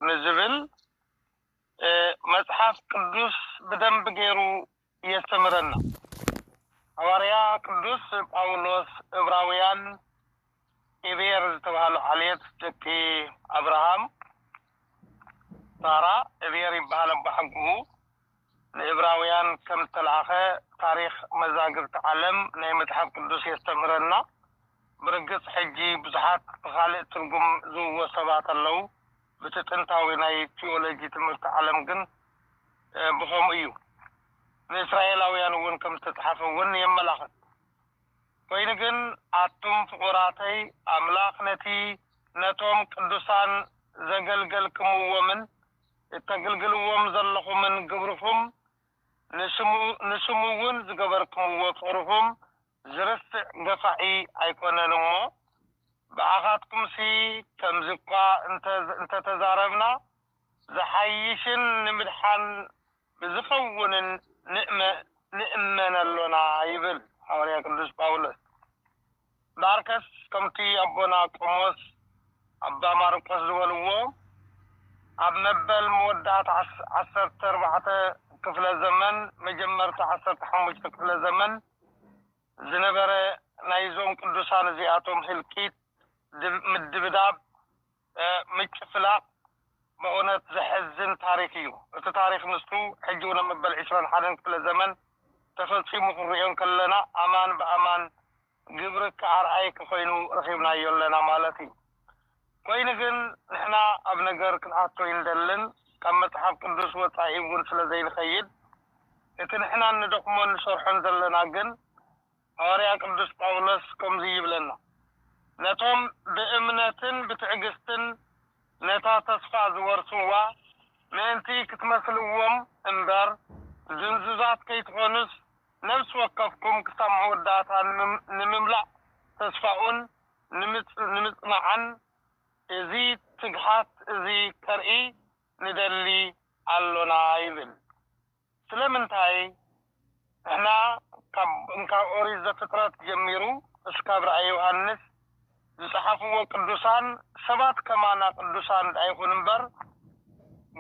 ንዝብል መጽሓፍ ቅዱስ ብደንቢ ገይሩ የስተምረና። ሃዋርያ ቅዱስ ጳውሎስ እብራውያን ኢብየር ዝተባህሉ ዓሌት ደቂ ኣብርሃም፣ ሳራ፣ እብየር ይበሃል ኣቦሓጎኡ፣ ንእብራውያን ከም እተላእከ ታሪኽ መዛግብቲ ዓለም ናይ መጽሓፍ ቅዱስ የስተምህረና። ብርግጽ ሕጂ ብዙሓት ብኻልእ ትርጉም ዝብዎ ሰባት ኣለዉ፣ ብቲ ጥንታዊ ናይ ቲዮሎጂ ትምህርቲ ዓለም ግን ብኸምኡ እዩ ንእስራኤላውያን እውን ከም ዝተጻሕፈ እውን የመላኽት። ኮይኑ ግን ኣቱም ፍቑራተይ ኣምላኽ ነቲ ነቶም ቅዱሳን ዘገልገልክምዎምን እተግልግልዎም ዘለኹምን ግብርኹም፣ ንስሙ ንስሙውን ዝገበርክምዎ ፍቕርኹም ዝርስዕ ገፋዒ ኣይኮነን እሞ፣ ብኣኻትኩምሲ ከምዚ እኳ እንተ እንተ ተዛረብና ዝሓይሽን ንምድሓን ብዝኸውንን ንእመን ኣሎና ይብል ሃዋርያ ቅዱስ ጳውሎስ። እምበኣርከስ ከምቲ ኣቦና ቆሞስ ኣባ ማርቆስ ዝበልዎ ኣብ መበል መወዳእታ ዓሰርተ ኣርባዕተ ክፍለ ዘመን መጀመርታ ዓሰርተ ሓሙሽተ ክፍለ ዘመን ዝነበረ ናይዞም ቅዱሳን እዚኣቶም ህልቂት፣ ምድብዳብ፣ ምጭፍላቕ በእውነት ዘሕዝን ታሪኽ እዩ። እቲ ታሪኽ ንሱ ሕጂ ውን ኣብ መበል ዕስራን ሓደን ክፍለ ዘመን ተፈጺሙ ክንርእዮ እንከለና ኣማን ብኣማን ግብርካ ኣርኣይክ ኮይኑ ረኺብናዮ ኣለና ማለት እዩ። ኮይኑ ግን ንሕና ኣብ ነገር ክንኣቱ ኣይንደልን ካብ መጽሓፍ ቅዱስ ወጻኢ ውን ስለ ዘይንኸይድ እቲ ንሕና እንደኽሞን ንሰርሖን ዘለና ግን ሃዋርያ ቅዱስ ጳውሎስ ከምዙይ ይብለና፣ ነቶም ብእምነትን ብትዕግሥትን ነታ ተስፋ ዝወርስዋ ምእንቲ ክትመስልዎም እምበር፣ ድንዙዛት ከይትኾኑስ ነፍሲ ወከፍኩም ክሳብ መወዳእታ ንምምላእ ተስፋኡን ንምጽናዕን እዚ ትግሃት እዚ ከርኢ ንደሊ ኣሎና ይብል። ስለምንታይ ንሕና ካብ እንካብ ኦሪት ዘፍጥረት ጀሚሩ እስካብ ራእይ ዮሃንስ ዝጸሓፍዎ ቅዱሳን ሰባት ከማና ቅዱሳን ድኣ ይኹኑ እምበር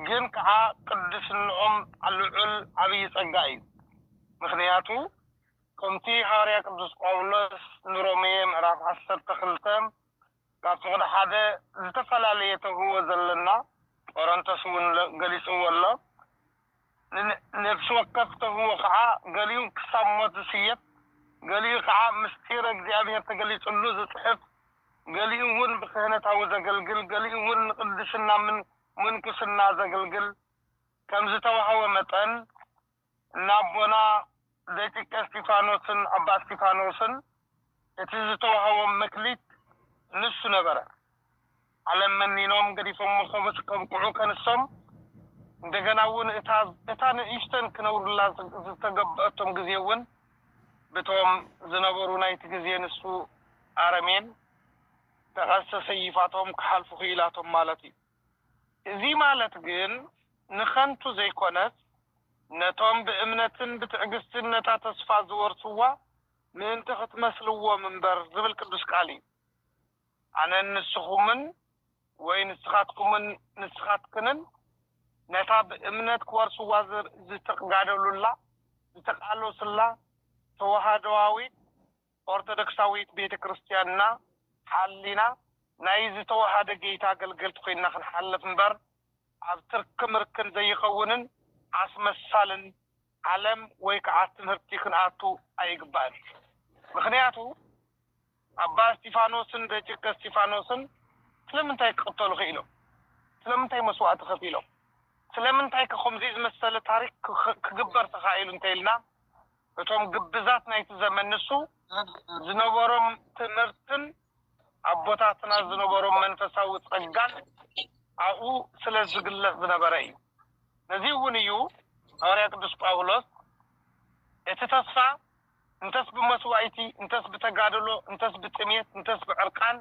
ግን ከኣ ቅድስንኦም ልዑል ዓብይ ጸጋ እዩ ምኽንያቱ ከምቲ ሃዋርያ ቅዱስ ጳውሎስ ንሮሜ ምዕራፍ ዓሰርተ ክልተ ካብቲ ክንሓደ ዝተፈላለየ ተውህቦ ዘለና ጰረንቶስ እውን ገሊጽዎ ኣሎ። ንነፍሲ ወከፍ ተውህቦ ከኣ ገሊኡ ክሳብ ሞት ዝስየፍ፣ ገሊኡ ከኣ ምሥጢረ እግዚኣብሔር ተገሊጽሉ ዝጽሕፍ፣ ገሊኡ እውን ብክህነታዊ ዘገልግል፣ ገሊኡ እውን ንቅድስና ምንኵስና ዘግልግል ከምዝተዋህቦ መጠን፣ ንኣቦና ዘይጥቀ እስጢፋኖስን ኣባ እስጢፋኖስን እቲ ዝተዋህቦም መክሊት ንሱ ነበረ። ዓለም መኒኖም ገዲፎሞ ከብስ ከብቅዑ ከንሶም እንደገና እውን እታ እታ ንእሽተን ክነብሩላ ዝተገበኣቶም ግዜ እውን ብቶም ዝነበሩ ናይቲ ግዜ ንሱ ኣረሜን ተኸሰሰይፋቶም ክሓልፉ ክኢላቶም ማለት እዩ። እዚ ማለት ግን ንኸንቱ ዘይኰነስ፣ ነቶም ብእምነትን ብትዕግስትን ነታ ተስፋ ዚወርስዋ ምእንቲ ኽትመስልዎም እምበር ዚብል ቅዱስ ቃል እዩ። ኣነን ንስኹምን ወይ ንስኻትኩምን ንስኻትክንን ነታ ብእምነት ኪወርስዋ ዚተጋደሉላ፣ ዚተቓለሱላ ተዋህዶኣዊት ኦርቶዶክሳዊት ቤተ ክርስትያንና ሓሊና ናይ ዝተወሃደ ገይታ ኣገልገልቲ ኮይንና ክንሓልፍ እምበር ኣብ ትርኪ ምርክን ዘይኸውንን ኣስመሳልን ዓለም ወይ ከዓ ትምህርቲ ክንኣቱ ኣይግባእን ምኽንያቱ ኣባ እስቲፋኖስን ደጭቀ እስቲፋኖስን ስለምንታይ ክቅተሉ ክኢሎም ስለምንታይ መስዋእቲ ከፊሎም ስለምንታይ ከ ከምዙይ ዝመሰለ ታሪክ ክግበር ተኻኢሉ እንተይልና እቶም ግብዛት ናይቲ ዘመን ንሱ ዝነበሮም ትምህርትን ኣቦታትና ዝነበሮም መንፈሳዊ ጸጋን ኣብኡ ስለ ዝግለጽ ዝነበረ እዩ። ነዚ እውን እዩ ሃዋርያ ቅዱስ ጳውሎስ እቲ ተስፋ እንተስ ብመስዋኢቲ እንተስ ብተጋደሎ እንተስ ብጥሜት እንተስ ብዕርቃን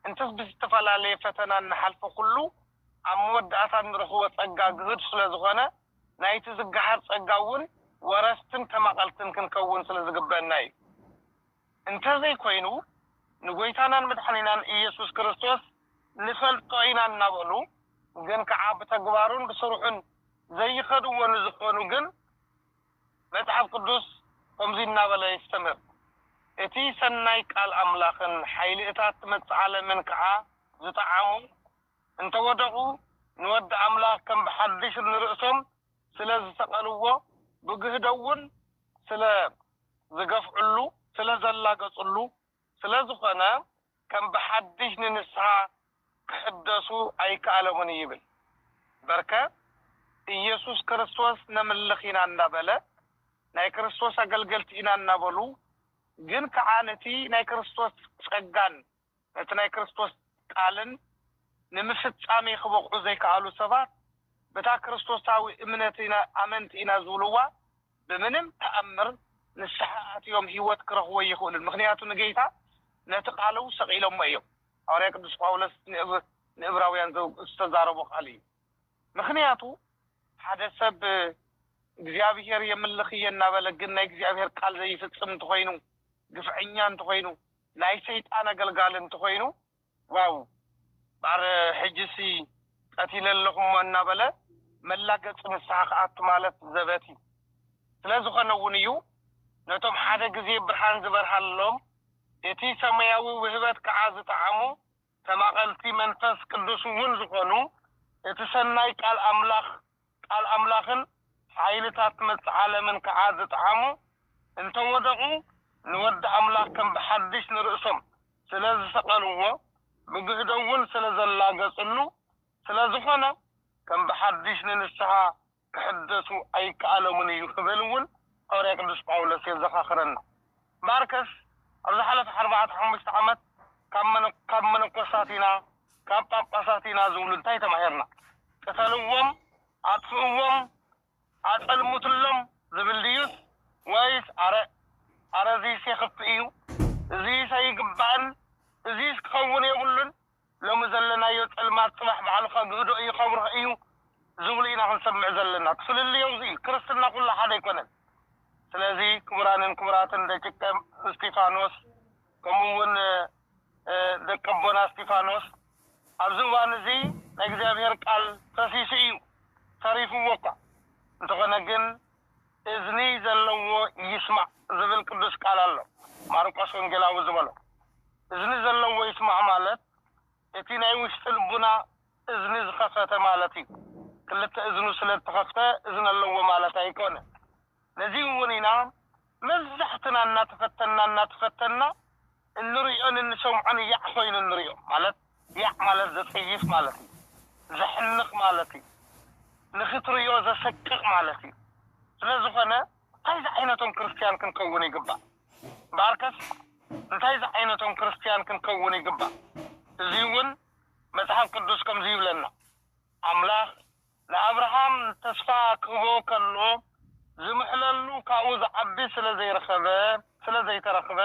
እንተስ ብዝተፈላለየ ፈተና እንሓልፎ ኩሉ ኣብ መወዳእታ እንረኽቦ ጸጋ ግሁድ ስለ ዝኾነ ናይቲ ዝገሃር ጸጋ እውን ወረስትን ተማቐልትን ክንከውን ስለ ዝግበእና እዩ። እንተ ዘይኮይኑ ንጎይታናን መድሓኒናን እየሱስ ክርስቶስ ንፈልጦ ኢና እናበሉ ግን ከኣ ብተግባሩን ብስርሑን ዘይኸድዎ ንዝኾኑ ግን መጽሓፍ ቅዱስ ከምዚ እናበለ የስተምህር እቲ ሰናይ ቃል ኣምላኽን ሓይሊ እታ እትመጽእ ዓለምን ከኣ ዝጠዓሙ እንተ ወደቑ ንወዲ ኣምላኽ ከም ብሓድሽ ንርእሶም ስለ ዝሰቐልዎ ብግህዶ'ውን ስለ ዝገፍዕሉ ስለ ዘላገጽሉ ስለ ዝኾነ ከም ብሓድሽ ንንስሓ ክሕደሱ ኣይከኣለሙን እዩ ይብል በርከ ኢየሱስ ክርስቶስ ነምልኽ ኢና እናበለ ናይ ክርስቶስ ኣገልገልቲ ኢና እናበሉ ግን ከኣ ነቲ ናይ ክርስቶስ ጸጋን ነቲ ናይ ክርስቶስ ቃልን ንምፍጻሜ ክበቕዑ ዘይከኣሉ ሰባት በታ ክርስቶሳዊ እምነት ኢና ኣመንቲ ኢና ዝብልዋ ብምንም ተኣምር ንስሓ ኣትዮም ህይወት ክረኽቡ ኣይኽእሉን ምኽንያቱ ንጌይታ ነቲ ቃሉ ሰቒሎሞ እዮም ሃዋርያ ቅዱስ ጳውሎስ ንእብራውያን ዝተዛረቦ ቃል እዩ ምኽንያቱ ሓደ ሰብ እግዚኣብሔር የምልኽ እየ እናበለ ግን ናይ እግዚኣብሔር ቃል ዘይፍጽም እንተኾይኑ ግፍዐኛ እንተኾይኑ ናይ ሰይጣን ኣገልጋሊ እንተኾይኑ ዋው ማዕረ ሕጂሲ ቀቲለ ኣለኹሞ እናበለ መላገጺ ንስሓ ክኣቱ ማለት ዘበት እዩ ስለዝኾነ እውን እዩ ነቶም ሓደ ግዜ ብርሃን ዝበርሃሎም እቲ ሰማያዊ ውህበት ከዓ ዝጠዓሙ ተማቐልቲ መንፈስ ቅዱስ'ውን ዝኾኑ፣ እቲ ሰናይ ቃል ኣምላኽ፣ ቃል ኣምላኽን ሓይልታት መጽ ዓለምን ከኣ ዝጠዓሙ፣ እንተ ወደቑ፣ ንወዲ ኣምላኽ ከም ብሓድሽ ንርእሶም ስለ ዝሰቐልዎ፣ ብግህዶ'ውን ስለ ዘላገጽሉ፣ ስለ ዝኾነ ከም ብሓድሽ ንንስሓ ክሕደሱ ኣይከኣሎምን እዩ ክብል እውን ሃዋርያ ቅዱስ ጳውሎስ የዘኻኽረና። ማርከስ ኣብ ዝሓለፈ ዓርባዕተ ሓሙሽተ ዓመት ካብ መነኮሳት ኢና ካብ ጳጳሳት ኢና ዝብሉ እንታይ ተማሂርና? ቅተልዎም፣ ኣጥፍእዎም፣ ኣጸልምቱሎም ዝብል ድዩስ ወይስ ኣረ ኣረ እዚስ የኽፍእ እዩ፣ እዚስ ኣይግባእን፣ እዚስ ክኸውን የብሉን፣ ሎሚ ዘለናዮ ጸልማት ጽባሕ ባዕሉ ከግህዶ እዩ ከብርሆ እዩ ዝብሉ ኢና ክንሰምዕ ዘለና ትፍልልዮም እዚ እዩ ክርስትና ኩሉ ሓደ ኣይኮነን ስለዚ ክቡራንን ክቡራትን ደቂቀ እስቲፋኖስ ከምኡ እውን ደቂ ኣቦና እስቲፋኖስ ኣብዚ እዋን እዚ ናይ እግዚኣብሔር ቃል ፈሲሱ እዩ ተሪፍዎ እኳ እንተኾነ ግን እዝኒ ዘለዎ ይስማዕ ዝብል ቅዱስ ቃል ኣሎ ማርቆስ ወንጌላዊ ዝበሎ እዝኒ ዘለዎ ይስማዕ ማለት እቲ ናይ ውሽጢ ልቡና እዝኒ ዝኸፈተ ማለት እዩ ክልተ እዝኑ ስለ ዝተኸፍተ እዝኒ ኣለዎ ማለት ኣይኮነ ነዚ እውን ኢና መብዛሕትና እናተፈተና እናተፈተና እንርእዮን እንሰምዖን ያዕ ኮይኑ እንርእዮ ማለት ያዕ ማለት ዘጸይፍ ማለት እዩ ዘሕንቅ ማለት እዩ ንክትርእዮ ዘሰቅቅ ማለት እዩ ስለ ዝኮነ እንታይ ዝዓይነቶም ክርስትያን ክንከውን ይግባእ ባርከስ እንታይ ዝዓይነቶም ክርስትያን ክንከውን ይግባእ እዚውን መጽሓፍ ቅዱስ ከምዚ ይብለና ኣምላክ ንኣብርሃም ተስፋ ክህቦ ከሎ ዝምሕለሉ ካብኡ ዝዓቢ ስለ ዘይረኸበ ስለ ዘይተረኽበ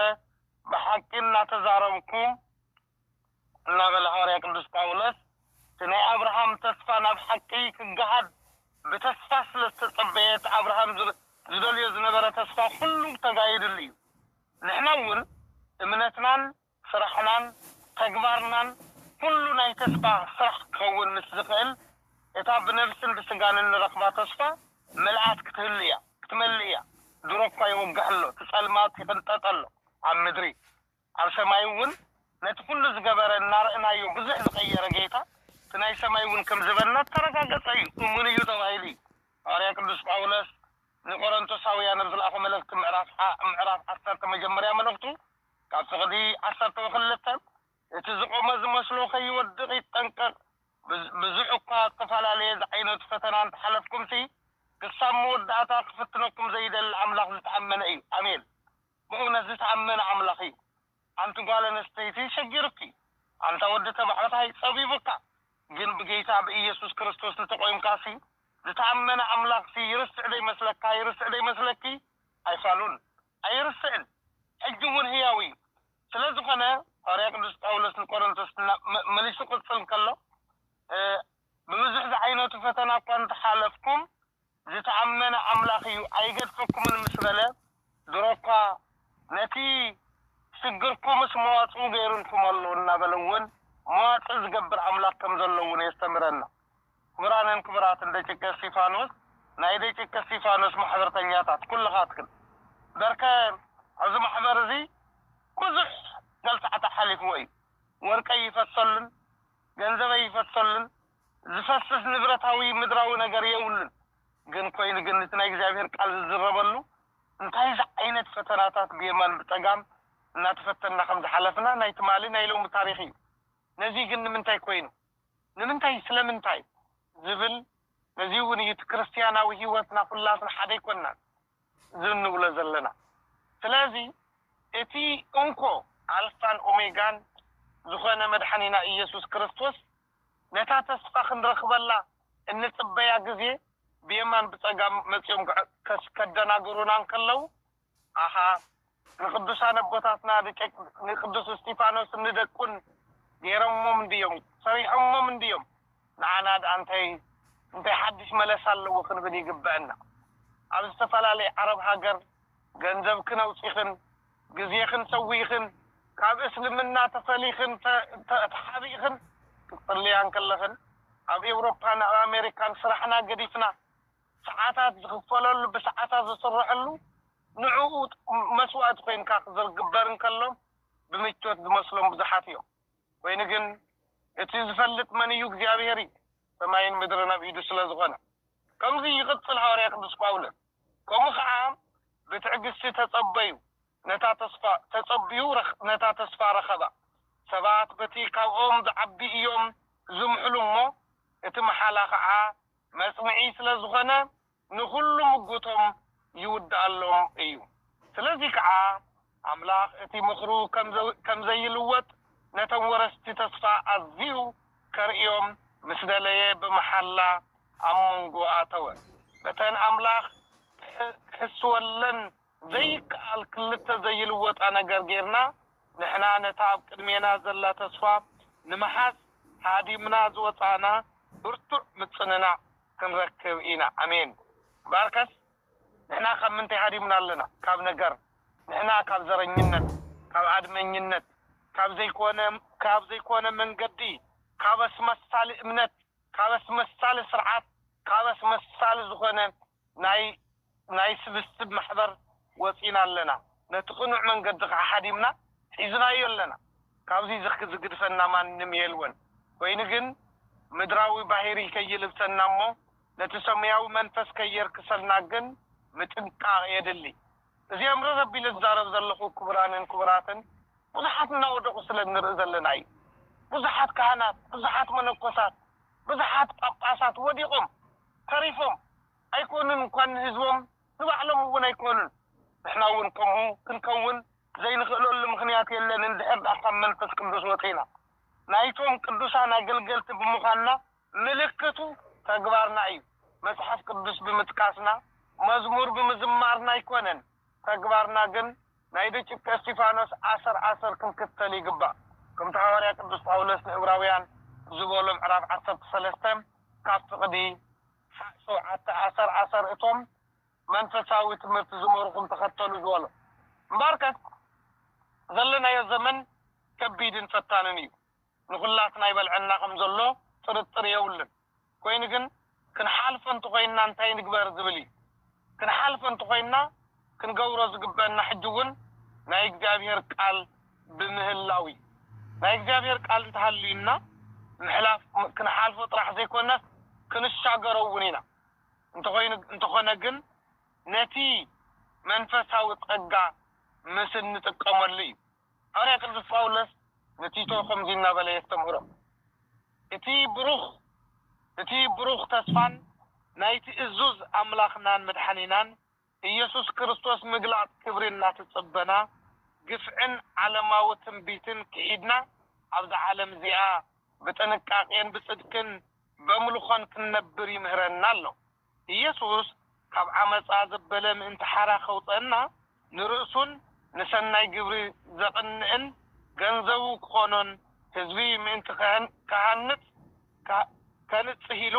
ብሓቂ እናተዛረብኩ እናበለ ሃዋርያ ቅዱስ ጳውሎስ እቲ ናይ ኣብርሃም ተስፋ ናብ ሓቂ ክገሃድ ብተስፋ ስለ ዝተጸበየ እቲ ኣብርሃም ዝደልዮ ዝነበረ ተስፋ ኩሉ ተጋሂድሉ እዩ ንሕና እውን እምነትናን ስራሕናን ተግባርናን ኩሉ ናይ ተስፋ ስራሕ ክኸውን ምስ ዝኽእል፣ እታ ብነብስን ብስጋን እንረኽባ ተስፋ ምልኣት ክትህሉ እያ፣ ክትመልእ እያ። ድሮ እኳ ይውጋሕ ኣሎ፣ እቲ ጸልማት ይቕንጠጥ ኣሎ ኣብ ምድሪ፣ ኣብ ሰማይ እውን ነቲ ኩሉ ዝገበረ እናረእናዮ ብዙሕ ዝቐየረ ጌታ እቲ ናይ ሰማይ እውን ከም ዝበና እተረጋገጸ እዩ፣ እሙን እዩ ተባሂሉ እዩ። ሃዋርያ ቅዱስ ጳውሎስ ንቆረንቶሳውያን ኣብ ዝለኣኾ መልእኽቲ ምዕራፍ ሓ ምዕራፍ ዓሰርተ መጀመርያ መልእኽቱ ካብ ፍቕዲ ዓሰርተው ክልተ እቲ ዝቖመ ዝመስሎ ከይወድቕ ይጠንቀቕ። ብዙሕ'ኳ እተፈላለየ ዝዓይነቱ ፈተና እንተ ሓለፍኩምሲ፣ ክሳብ መወዳእታ ክፍትነኩም ዘይደሊ ኣምላኽ ዝተኣመነ እዩ። ኣሜን! ብእውነት ዝተኣመነ ኣምላኽ እዩ። ኣንቲ ጓል ኣንስተይቲ ሸጊሩኪ፣ ኣንታ ወዲ ተባዕታይ ጸቢቡካ፣ ግን ብጌይታ ብኢየሱስ ክርስቶስ እንተ ቆይምካሲ፣ ዝተኣመነ ኣምላኽሲ ይርስዕ ደይመስለካ ይርስዕ ደይመስለኪ? ኣይፋሉን። ኣይርስዕን ሕጂ ውን ህያው እዩ ስለ ዝኮነ ሃዋርያ ቅዱስ ጳውሎስ ንቆሮንቶስ መሊሱ ክቅጽል ከሎ ብብዙሕ ዝዓይነቱ ፈተና እኳ እንተ ሓለፍኩም ዝተኣመነ ኣምላኽ እዩ ኣይገድፈኩምን ምስ በለ ድሮ እኳ ነቲ ሽግርኩምስ መዋጽኡ ገይሩልኩም ኣሎ እናበለ ውን መዋጽእ ዝገብር ኣምላኽ ከም ዘሎ ውን የስተምረና። ክቡራንን ክቡራትን ደጭቀ እስቲፋኖስ ናይ ደጭቀ እስቲፋኖስ ማሕበርተኛታት ኩልኻትክን በርከ ኣዚ ማሕበር እዚ ብዙሕ ገልታዕታ ሓሊፍዎ እዩ ወርቀይ ይፈሰሉን ገንዘበይ ይፈሰሉን ዝፈስስ ንብረታዊ ምድራዊ ነገር የውሉን ግን ኮይኑ ግን እቲ ናይ እግዚኣብሔር ቃል ዝዝረበሉ እንታይ ዝዓይነት ፈተናታት ብየማን ብጸጋም እናተፈተንና ከምዝሓለፍና ናይ ትማሊ ናይ ሎሚ ታሪኽ እዩ ነዚ ግን ንምንታይ ኮይኑ ንምንታይ ስለምንታይ ዝብል ነዚ እውን እዩ እቲ ክርስትያናዊ ሕይወትና ኵላትና ሓደ ኣይኮናን ዝም ንብሎ ዘለና ስለዚ እቲ እንኮ ኣልፋን ኦሜጋን ዝኾነ መድሓኒና ኢየሱስ ክርስቶስ ነታ ተስፋ ክንረኽበላ እንጽበያ ግዜ ብየማን ብጸጋም መጺኦም ከደናግሩና እንከለዉ ኣሃ ንቅዱሳን ኣቦታትና ንቅዱስ እስጢፋኖስን ንደቁን ገይሮሞም እንድዮም ሰሪሖሞም እንድዮም ንዓና ድኣ እንታይ እንታይ ሓድሽ መለሳ ኣለዎ ክንብል ይግበእና ኣብ ዝተፈላለየ ዓረብ ሃገር ገንዘብክን ኣውጺክን ግዜክን ሰዊእክን ካብ እስልምና ተፈሊክን ተሓቢእክን ክትጽልያ እንከለክን ኣብ ኤውሮፓን ኣብ ኣሜሪካን ስራሕና ገዲፍና ሰዓታት ዝኽፈለሉ ብሰዓታት ዝስረሐሉ ንዕኡ መስዋእቲ ኮይንካ ክዝግበር እንከሎ ብምቾት ዝመስሎም ብዙሓት እዮም ኮይኑ ግን እቲ ዝፈልጥ መን እዩ እግዚኣብሔር እዩ ሰማይን ምድርን ኣብ ኢዱ ስለ ዝኾነ ከምዚ ይቕጽል ሃዋርያ ቅዱስ ጳውሎስ ከምኡ ከኣ ብትዕግስቲ ተጸበዩ ነታ ተስፋ ተጸብዩ ነታ ተስፋ ረኸባ። ሰባት በቲ ካብኦም ዝዓቢ እዮም ዝምሕሉ እሞ፣ እቲ መሓላ ኸዓ መጽንዒ ስለ ዝኾነ ንኹሉ ምጉቶም ይውድኣሎም እዩ። ስለዚ ከኣ ኣምላኽ እቲ ምኽሩ ከም ዘይልወጥ ነቶም ወረስቲ ተስፋ ኣዝዩ ከርእዮም ምስ ደለየ ብመሓላ ኣብ መንጎ ኣተወ። በተን ኣምላኽ ክሕስወለን ዘይከኣል ክልተ ዘይልወጣ ነገር ጌርና ንሕና ነታ ኣብ ቅድሜና ዘላ ተስፋ ንምሓዝ ሃዲምና ዝወጻእና ብርቱዕ ምጽንናዕ ክንረክብ ኢና። ኣሜን። እምበኣርከስ ንሕና ካብ ምንታይ ሃዲምና ኣለና? ካብ ነገር። ንሕና ካብ ዘረኝነት፣ ካብ ኣድመኝነት፣ ካብ ዘይኮነ ካብ ዘይኮነ መንገዲ፣ ካብ ኣስመሳሊ እምነት፣ ካብ ኣስመሳሊ ስርዓት፣ ካብ ኣስመሳሊ ዝኾነ ናይ ናይ ስብስብ ማሕበር ወጺና ኣለና ነቲ ቅኑዕ መንገዲ ከኣ ሃዲምና ሒዝናዮ ኣለና ካብዚ ዝክ ዝግድፈና ማንም የልወን ኮይኑ ግን ምድራዊ ባሂሪ ከይልብሰና እሞ ነቲ ሰሙያዊ መንፈስ ከየርክሰልና ግን ምጥንቃቅ የድሊ እዚኦም ርር ኣቢለ ዝዛረብ ዘለኩ ኩቡራንን ኩቡራትን ቡዙሓት እናወደቁ ስለ እንርኢ ዘለና እዩ ቡዙሓት ካህናት ቡዙሓት መነኮሳት ቡዙሓት ጳጳሳት ወዲቆም ተሪፎም ኣይኮኑን እንኳን ንህዝቦም ንባዕሎም እውን ኣይኮኑን። ንሕና እውን ከምኡ ክንከውን ዘይንኽእለሉ ምኽንያት የለን እንድሕር ድኣ ካብ መንፈስ ቅዱስ ወጺእና ናይቶም ቅዱሳን ኣገልገልቲ ብምዃንና ምልክቱ ተግባርና እዩ መጽሓፍ ቅዱስ ብምጥቃስና መዝሙር ብምዝማርና ኣይኮነን ተግባርና ግን ናይ ደቂቀ እስቲፋኖስ ኣሰር ኣሰር ክንክተል ይግባእ ከምቲ ሃዋርያ ቅዱስ ጳውሎስ ንእብራውያን ዝበሎ ምዕራፍ ዓሰርተ ሰለስተ ካብ ፍቅዲ ሓዕ ሸውዓተ ኣሰር ኣሰር እቶም መንፈሳዊ ትምህርቲ ዝመሩኹም ተኸተሉ ዝበሎ እምበኣርከስ ዘለናዮ ዘመን ከቢድን ፈታንን እዩ ንኹላትና ይበልዐና ከም ዘሎ ጥርጥር የብሉን። ኮይኑ ግን ክንሓልፎ እንተኾይንና እንታይ ንግበር ዝብል እዩ። ክንሓልፎ እንተኾይንና ክንገብሮ ዝግበእና ሕጂ እውን ናይ እግዚኣብሄር ቃል ብምህላው እዩ። ናይ እግዚኣብሄር ቃል እንተሃልዩና ምሕላፍ ክንሓልፎ ጥራሕ ዘይኮነስ ክንሻገሮ እውን ኢና። እንተኾይኑ እንተኾነ ግን ነቲ መንፈሳዊ ጸጋ ምስ እንጥቀመሉ እዩ። ሃዋርያ ቅዱስ ጳውሎስ ንቲቶ ከምዚ እናበለ የስተምህሮ፣ እቲ ብሩኽ እቲ ብሩኽ ተስፋን ናይቲ እዙዝ ኣምላኽናን መድሓኒናን ኢየሱስ ክርስቶስ ምግላጽ ክብሪ እናተጸበና፣ ግፍዕን ዓለማዊ ትንቢትን ክሒድና ኣብዛ ዓለም እዚኣ ብጥንቃቄን ብጽድቅን በምልኾን ክንነብር ይምህረና ኣሎ። ኢየሱስ ካብ ዓመጻ ዘበለ ምእንቲ ሓራ ከውጸእና ንርእሱን ንሠናይ ግብሪ ዘቕንእን ገንዘቡ ክኾኖን ሕዝቢ ምእንቲ ክሃንጽ ከንጽህ ኢሉ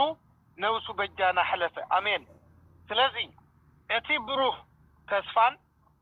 ነብሱ በጃና ኅለፈ ኣሜን ስለዚ እቲ ብሩህ ተስፋን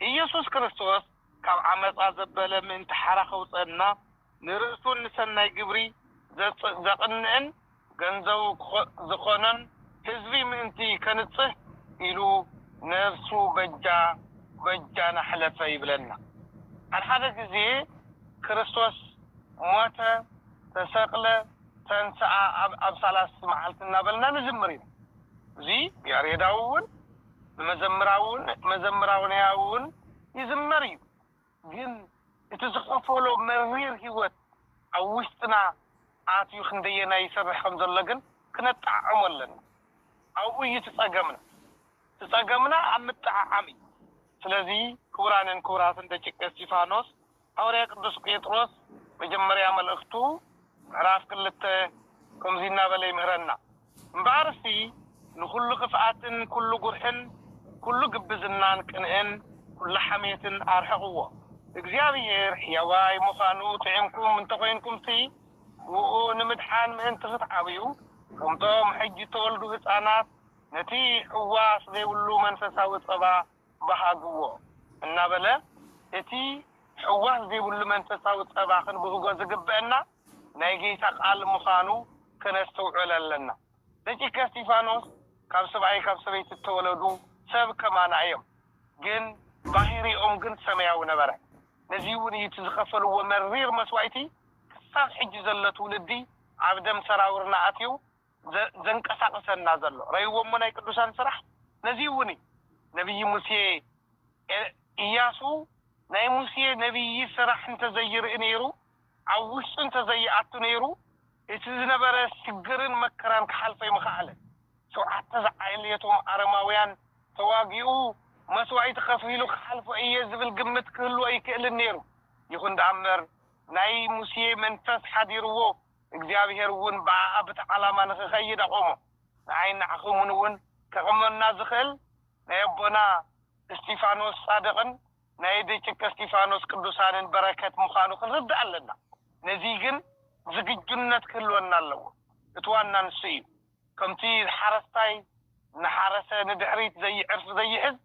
ኢየሱስ ክርስቶስ ካብ ዓመጻ ዘበለ ምእንቲ ሓራ ከውጸእና ንርእሱን ንሰናይ ግብሪ ዘቕንእን ገንዘቡ ዝኾኖን ሕዝቢ ምእንቲ ከንጽህ ኢሉ ነፍሱ በጃ በጃና ኅለፈ ይብለና። ሓደ ሓደ ጊዜ ክርስቶስ ሞተ፣ ተሰቕለ፣ ተንሥኣ ኣብ ሣልስቲ መዓልቲ እናበልና ንዝምር ኢና። እዙይ ያሬዳዊ እውን። ብመዘምራውን መዘምራውንያውን ይዝመር እዩ ግን እቲ ዝኸፈሎ መሪር ሂወት ኣብ ውሽጥና ኣትዩ ክንደየናይ ይሰርሕ ከም ዘሎ ግን ክነጣዓዕሞ ኣለና ኣብኡ እዩ እቲ ጸገምና እቲ ጸገምና ኣብ ምጥዓዓም እዩ ስለዚ ክቡራንን ክቡራትን ደቂቀ እስቲፋኖስ ሃዋርያ ቅዱስ ጴጥሮስ መጀመርያ መልእኽቱ ምዕራፍ ክልተ ከምዙይ እናበለ ይምህረና፣ እምበኣርሲ ንዅሉ ኽፍኣትን ኵሉ ጕርሕን ኵሉ ግብዝናን ቅንእን ኵሉ ሓሜትን ኣርሕቕዎ። እግዚኣብሄር ሕያዋይ ምዃኑ ጥዒምኩም እንተ ኾይንኩምሲ፣ ብእኡ ንምድሓን ምእንቲ ኽትዓብዩ፣ ከምቶም ሕጂ እተወልዱ ህፃናት ነቲ ሕዋስ ዘይብሉ መንፈሳዊ ፀባ በሃግዎ እናበለ እቲ ሕዋስ ዘይብሉ መንፈሳዊ ጸባ ክንብህጎ ዝግበእና ናይ ጌይታ ቃል ምኻኑ ከነስትውዕል ኣለና። ደቂቀ እስጢፋኖስ ካብ ስብኣይ ካብ ሰበይቲ እተወለዱ ሰብ ከማና እዮም ግን ባሂሪኦም ግን ሰመያዊ ነበረ። ነዚውን እዩ እቲ ዝኸፈልዎ መሪር መስዋኢቲ ክሳብ ሕጂ ዘሎ ትውልዲ ኣብ ደም ሰራውርና ኣትዩ ዘንቀሳቅሰና ዘሎ ረይዎሞ ናይ ቅዱሳን ስራሕ ነዙይ እውን እዩ ነብይ ሙሴ እያሱ ናይ ሙሴ ነብይ ስራሕ እንተዘይርኢ ነይሩ ኣብ ውሽጡ እንተዘይኣቱ ነይሩ እቲ ዝነበረ ሽግርን መከራን ክሓልፎ ኣይምኸኣለን ሸውዓተ ዝዓሌቶም ኣረማውያን ተዋጊኡ መስዋኢቲ ከፊሉ ክሓልፎ እየ ዝብል ግምት ክህልዎ ኣይክእልን ነይሩ ይኹን ድኣ እምበር ናይ ሙሴ መንፈስ ሓዲርዎ እግዚኣብሄር እውን ብኣኣ ብቲ ዓላማ ንክከይድ ኣቆሞ ንኣይን ንዓክሙን እውን ከቅመና ዝክእል ናይ ኣቦና እስቲፋኖስ ጻድቅን ናይ ደጭቀ እስቲፋኖስ ቅዱሳንን በረከት ምካኑ ክንርዳእ ኣለና ነዚይ ግን ዝግጁነት ክህልወና ኣለዎ እቲ ዋና ንሱ እዩ ከምቲ ሓረስታይ እናሓረሰ ንድሕሪት ዘይዕርፍ ዘይሕዝ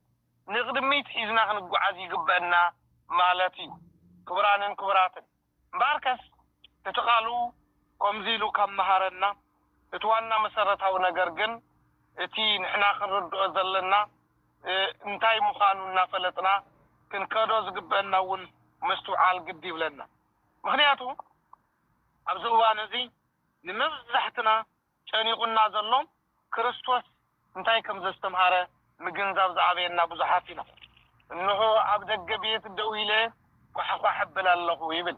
ንቅድሚት ሒዝና ክንጓዓዝ ይግበእና ማለት እዩ ክቡራንን ክቡራትን እምበኣርከስ እቲ ቃሉ ከምዚ ኢሉ ካብ መሃረና እቲ ዋና መሰረታዊ ነገር ግን እቲ ንሕና ክንርድኦ ዘለና እንታይ ምዃኑ እናፈለጥና ክንከዶ ዝግበእና እውን ምስትውዓል ግዲ ይብለና። ምኽንያቱ ኣብዚ እዋን እዚ ንመብዛሕትና ጨኒቑና ዘሎን ክርስቶስ እንታይ ከም ዘስተምሃረ ምግንዛብ ዝኣበየና ብዙሓት ኢና። እንሆ ኣብ ደገ ቤት ደው ኢለ ኳሕኳሕ እብል ኣለኹ ይብል።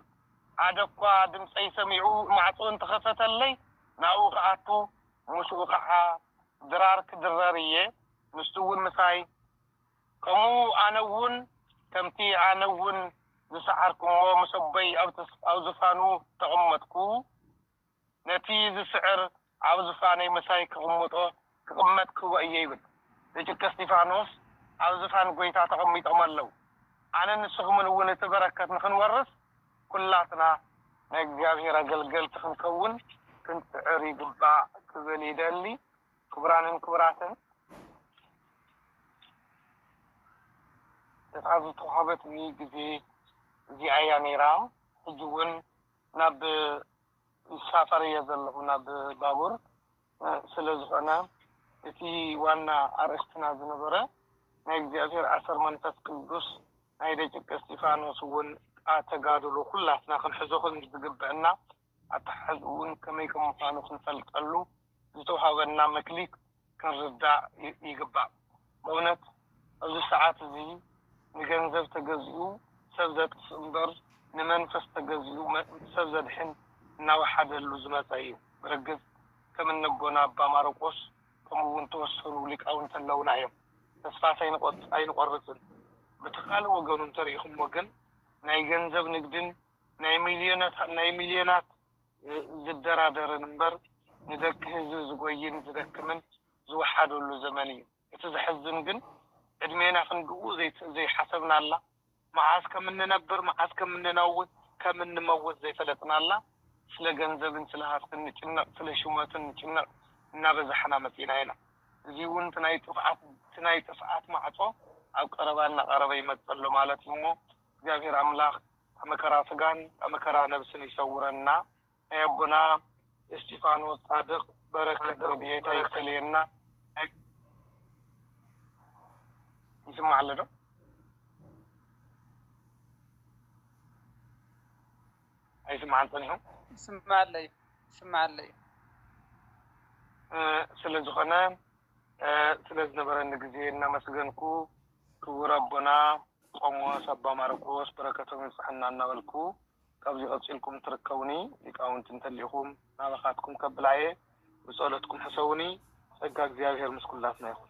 ሓደ እኳ ድምጸይ ሰሚዑ ማዕጾ እንተ ኸፈተለይ ናብኡ ክኣቱ ምስኡ ኸኣ ድራር ክድረር እየ፣ ንሱውን ምሳይ ከምኡ ኣነውን ከምቲ ኣነውን ዝሰዓርኩ እሞ ምስ ኣቦይ ኣብ ዝፋኑ ተቐመጥኩ። ነቲ ዝስዕር ኣብ ዝፋነይ ምሳይ ክቕምጦ ክቕመጥ ክወ እየ ይብል ብጭቂ እስጢፋኖስ ኣብ ዝፋን ጎይታ ተቐሚጦም ኣለው ኣነን ንስኹምን እውን እቲ በረከት ንክንወርስ ኩላትና ናይ እግዚኣብሔር ኣገልገልቲ ክንከውን ክንጽዕር ይግባእ ክብል ይደሊ ክቡራንን ክቡራትን እታ ዝተዋህበትኒ ግዜ እዚኣ እያ ነይራ ሕጂ እውን ናብ ይሳፈር እየ ዘለኹ ናብ ባቡር ስለ ዝኾነ እቲ ዋና ኣርእስትና ዝነበረ ናይ እግዚኣብሔር ኣሰር መንፈስ ቅዱስ ናይ ደጭቂ እስጢፋኖስ እውን ቃ ተጋድሎ ኩላትና ክንሕዞ ከም ዝግበእና ኣተሓሕዝኡውን ከመይ ከም ምዃኑ ክንፈልጠሉ ዝተውሃበና መክሊት ክንርዳእ ይግባእ በእውነት ኣብዚ ሰዓት እዚ ንገንዘብ ተገዚኡ ሰብ ዘጥፍእ እምበር ንመንፈስ ተገዚኡ ሰብ ዘድሕን እናወሓደሉ ዝመፀ እዩ ብርግፅ ከም እነቦና ኣባ ማረቆስ ከምኡ እውን ተወሰኑ ሊቃውንቲ ኣለውና እዮም ተስፋ ኣይንቆርፅን ብቲ ካልእ ወገኑ እንተሪኢኹሞ ግን ናይ ገንዘብ ንግድን ናይ ሚልዮናት ዝደራደርን እምበር ንደቂ ህዝቢ ዝጎይን ዝደክምን ዝወሓደሉ ዘመን እዩ። እቲ ዘሕዝን ግን ዕድሜና ክንድኡ ዘይሓሰብናላ፣ መዓስ ከም እንነብር መዓስ ከም እንነውት ከም እንመውት ዘይፈለጥናላ፣ ስለ ገንዘብን ስለ ሃፍትን ንጭነቕ ስለ ሹመትን ንጭነቕ እናበዛሕና መጺእና ኢና። እዚ'ውን እቲ ናይ ጥፍኣት እቲ ናይ ጥፍኣት ማዕጾ ኣብ ቀረባ እናቐረበ ይመጽእ ኣሎ ማለት እዩ'ሞ እግዚኣብሔር ኣምላኽ ካብ መከራ ስጋን ካብ መከራ ነብስን ይሰውረና ናይ ኣቦና እስጢፋኖስ ጻድቅ በረከት ረድኤት ኣይፈለየና። ይስማዕ ኣሎ ዶ? ኣይስማዕን ጸኒሑ ይስማዕ ኣሎ እዩ ይስማዕ ኣሎ እዩ። ስለ ዝኾነ ስለ ዝነበረኒ ግዜ እናመስገንኩ ክቡር ኣቦና ቆሞስ ኣባ ማርቆስ በረከቶም ይብጸሐና እናበልኩ ካብዚ ቀጺልኩም ትርከቡኒ ሊቃውንቲ እንተሊኹም ናባኻትኩም ከብላ እየ ብጸሎትኩም ሕሰቡኒ ጸጋ እግዚኣብሔር ምስ ኩላትና ይኹን።